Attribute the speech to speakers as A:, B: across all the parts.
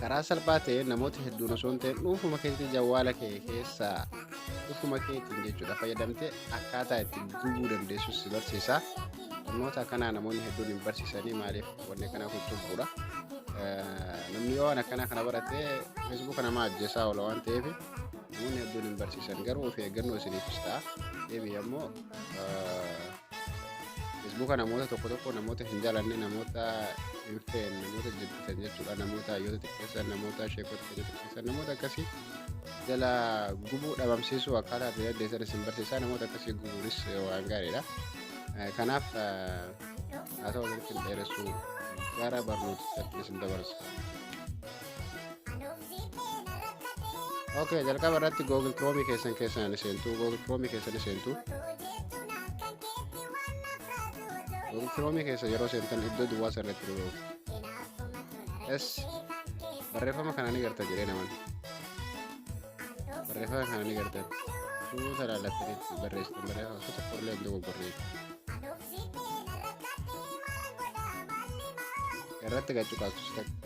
A: karaa salphaa ta'een namoota hedduun osoo hin ta'in dhuunfuma keetii jawwaala kee keessaa dhufuma keetiin jechuudha fayyadamtee akkaataa itti gubuu dandeessus si barsiisa barnoota akkanaa namoonni hedduun hin barsiisanii maaliif wanni akkanaa kun cubbuudha namni yoo waan akkanaa kana barate feesbuuka namaa ajjeesaa oola waan ta'eef namoonni hedduun hin barsiisan garuu of eeggannoo isiniifis ta'a deebii ammoo Feesbuuka namoota tokko tokko namoota hin jaalanne namoota hin feene namoota jibbitan jechuudha namoota hayyoota xiqqeessan namoota sheekota keenya xiqqeessan namoota akkasii jala gubuu dhabamsiisuu akkaataa itti dandeessan isin barsiisaa namoota akkasii gubuunis waan gaariidha. Eh, Kanaaf eh, haasawaa walitti hin dheeressuu gara barnootichaatti isin dabarsa. ok jalqaba irratti google chrome keessan keessan seentu google chrome keessan seentu google chrome keessa yeroo seentan iddoo duwwaa sana irratti dhufu s barreeffama kana ni garta jedhee naman barreeffama kana ni gartan suuta laallattanitti barreessitan barreeffama suuta qorlee hin dogoggorree irratti gachu kaasusta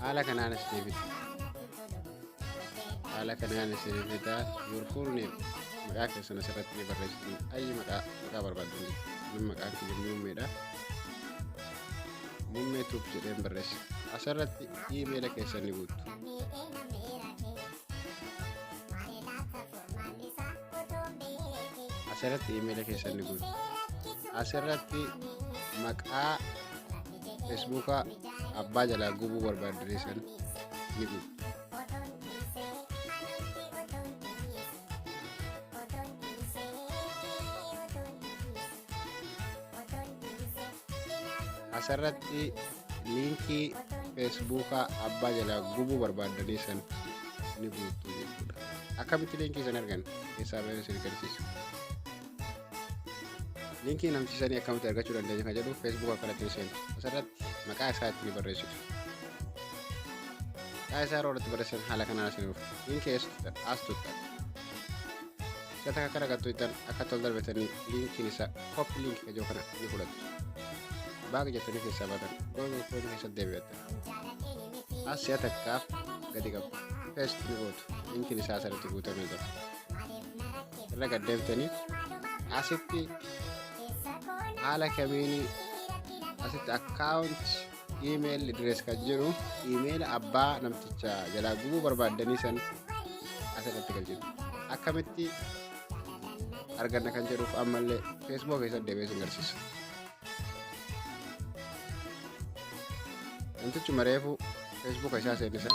A: haala kanaan as deebita haala kanaan as deebita your full name maqaa keessan asirratti ni barreessitu ayyi maqaa maqaa barbaaddu min maqaa kiyya muummeedha muummee tuub jedheen barreessa asirratti iimeela keessan ni guuttu asirratti iimeela keessan ni guuttu asirratti maqaa feesbuukaa abbaa jalaa gubuu barbaaddiree san ni gubu. asirratti liinkii feesbuukaa abbaa jalaa gubuu barbaaddanii san ni guuttu jechuudha akkamitti liinkii san argan keessaa bahee sin garsiisu linkii namsiisanii akkamitti argachuu dandeenya kan jedhu feesbuuk akkanatti ni seentu asirratti maqaa isaa itti ni barreessitu maqaa isaa yeroo irratti barreessan haala kanaan isin dhufu linkii eessuttan as tuttan isa takka kana gattu ittan akka tol darbetanii linkiin isaa kopp linkii kajoo kana ni fudhattu baaq jettanii keessaa baatan goon goon keessatti deebi'attan as si'a takkaaf gadi qabu feest ni gootu linkiin isaa asirratti guutamee jira irra gad deebitanii asitti haala kamiin asitti akkaawunti iimeeyil direes kan jiru iimeeyila abbaa namticha jalaa gubuu barbaaddanii san asirratti kan jiru akkamitti arganna kan jedhuuf ammallee feesbuuk keessatti deebi'ee sin garsiisu. Namtichi mareefu feesbuuka isaa seennisan.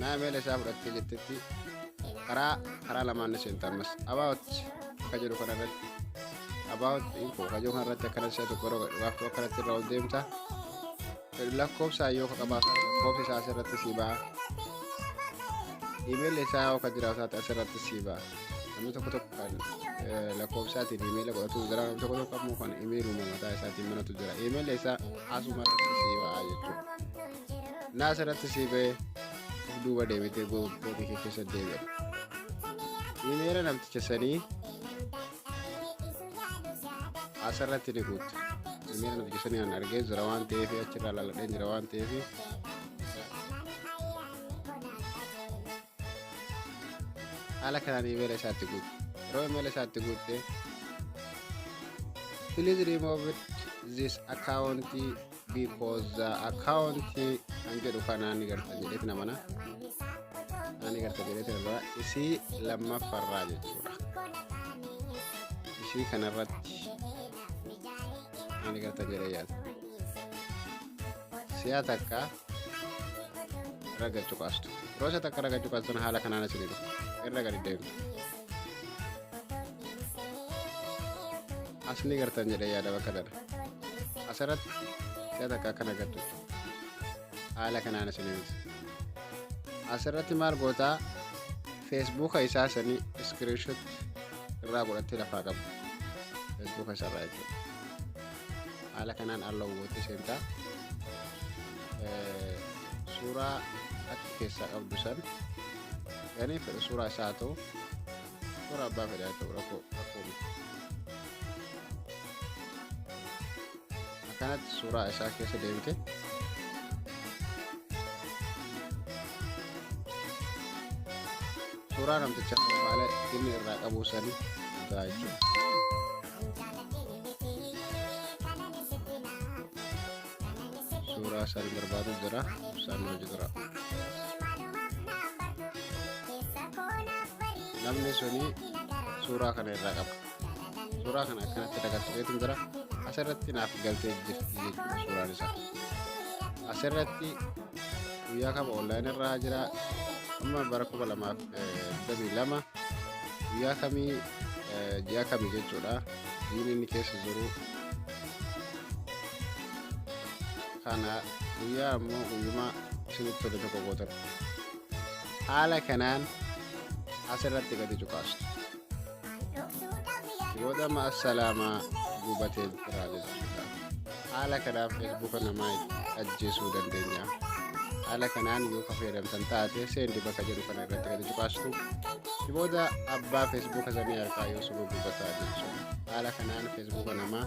A: Naameela isaa fudhattee jettetti karaa karaa lamaan ni seenta ammas about akka jedhu kana irratti about info akka jedhu kana irratti akkana si'a tokko yeroo gaaftu akkanatti irra ol deemta lakkoofsaan yoo qabaatan lakkoofsi isaa asirratti si ba'a imeelli isaa yoo kan jiraatu taate asirratti si ba'a namni tokko tokko kan lakkoofsaatiin imeela godhatu jira namni tokko tokko ammoo kan imeeluma mataa isaatiin manatu jira imeelli isaa asuma irratti si ba'a jechuudha. naa asirratti sii ba'ee of duuba deebitee gootee kee keessa deebi'a. Imeera namticha sanii asirratti ni guutte. Imeera namticha sanii an argee jira waan ta'eef achirraa laladhee jira waan ta'eef. Haala kanaan imeera isaatti guutte. Yeroo imeera isaatti guutte. Please remove this account because uh, account kan jedhu kanaa ni garta jedheeti namana ani garta jedheeti irraa isii lammaffarraa jechuudha isii kanarratti ani garta jedhee yaada si'a takka raga cuqaastu yeroo si'a takka raga cuqaastun haala kanaan asii dhufu irra gadi deemtu asni gartan jedhe yaada bakka dara asirratti si'a takka akkana agartu haala kanaan isin ibsa asirratti maal gootaa feesbuuka isaa sanii iskiriinshot irraa godhattee lafaa qabu feesbuuka isaa irraa jechuudha haala kanaan alla hubatte seentaa suuraa achi keessaa qabdu san Gani fedha suuraa isaa haa ta'u suuraa abbaa fedha haa ta'u rakkoo rakkoo miti. Akkanatti suuraa isaa keessa deebite. Suuraa namticha haala inni irraa qabu sanii jira jechuudha. suuraa isaan barbaadu jira isaan nu jira namni suni suuraa kana irraa qaba suuraa kana akkanatti dagatteetu jira asirratti naaf galtee jirti jechuudha suuraan isaa asirratti guyyaa kama online irraa jira amma bara kuma lamaaf digdamii lama guyyaa kamii ji'a kami jechuudha jiini inni keessa jiru kana guyyaa ammoo guyyuma isinitti tole tokko gootan haala kanaan asirratti gadi cuqaastu booda amma assalaamaa gubatee jira jechuudha haala kanaan feesbuuka namaa itti ajjeesuu dandeenya haala kanaan yoo ka fayyadamtan taate seendi bakka jedhu kana irratti gadi cuqaastu booda abbaa feesbuuka sanii harkaa yoo suba gubataa jechuudha haala kanaan feesbuuka namaa